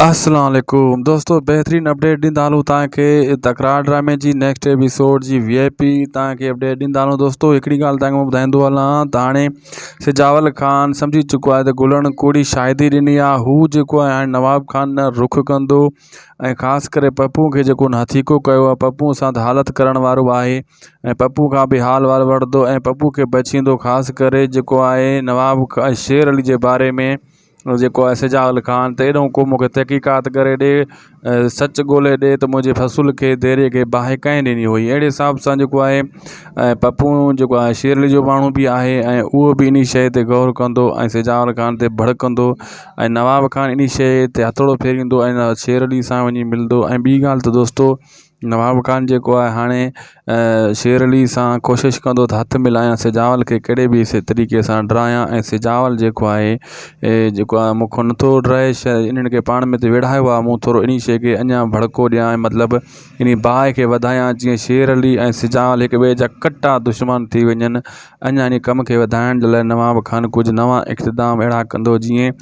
اسلام عليڪم دوستو بهترين اپڊيٽ ڏيندا هلون تان کي تڪرار ڊرامي جي نيڪسٽ ايپيسوڊ جي وي آء پي تان کي اپڊيٽ ڏيندا هلون دوستو هڪڙي ڳالهه تان کي ٻڌائيندو هلان ته هاڻي سجاول خان سمجهي چڪو آهي ته گلڻ ڪوڙي شاهدي ڏني آهي هو جيڪو آهي هاڻي نواب خان نه رخ ڪندو ۽ خاص ڪري پپو کي جيڪو هن هٿيڪو ڪيو آهي پپو سان ته حالت ڪرڻ وارو آهي ۽ پپو کان به حال وال وٺندو ۽ پپو کي بچيندو خاص ڪري جيڪو آهي نواب شير علي جي باري ۾ جيڪو آهي سجاول خان ته اهڙو ڪو مونکي تحقيقات ڪري ڏي سچ ڳولي ڏي ته منهنجي فصل کي ديري کي باهه ڪنهن ڏني هئي اهڙي حساب سان جيڪو آهي ۽ پپو جيڪو آهي شيرڙي جو ماڻهو بي آهي ۽ اهو بي انهي شئي تي غور ڪندو ۽ سجاول خان تي ڀڙڪندو ۽ نواب خان انهي شئي تي هٿوڙو ڦيريندو ۽ شيرڙي سان وڃي ملندو ۽ ٻي ڳالهه ته دوستو نواب خان جيڪو آهي هاڻي شير علي سان ڪوشش ڪندو ته هٿ ملايان سجاول کي ڪهڙي به سي طريقي سان ڊرايان ۽ سجاول جيڪو آهي اي جيڪو آهي مون کان نٿو ڊرائي شا انهن کي پاڻ مت ويڙهايو آهي مون ٿورو انهي شي کي اڃا ڀڙڪو ڏيان ۽ مطلب انهي باهه کي وڌايان جيئن شير علي ۽ سجاول هڪ ٻئي جا ڪٽا دشمن ٿي وڃن اڃا انهي ڪم کي وڌائڻ جي لاء نواب خان ڪجهه نوان اقتدام اهڙا ڪندو جيئن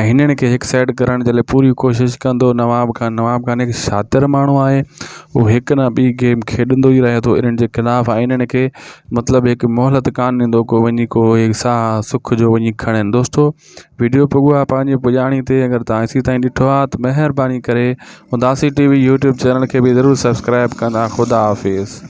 ۽ هنن کي هڪ سائيڊ ڪرڻ جي لاء پوري ڪوشش ڪندو نواب خان نواب خان هڪ شاطر ماڻهو آهي هو هڪ نه ٻي گيم کيڏندو ئي رهي ٿو انهن جي خلاف ۽ انهن کي مطلب هڪ مهلت ڪان ڏيندو ڪو وڃي ڪو هيڪ ساهه سک جو وڃي کڻن دوستو ويڊيو پڳو آهي پنهنجي پڄاڻي تي اگر تان ايسي تائين ڏٺو آهي ته مهرباني ڪري اداسي ٽي وي يوٽيوب چينل کي به ضرور سبسڪرائب ڪندا خدا حافظ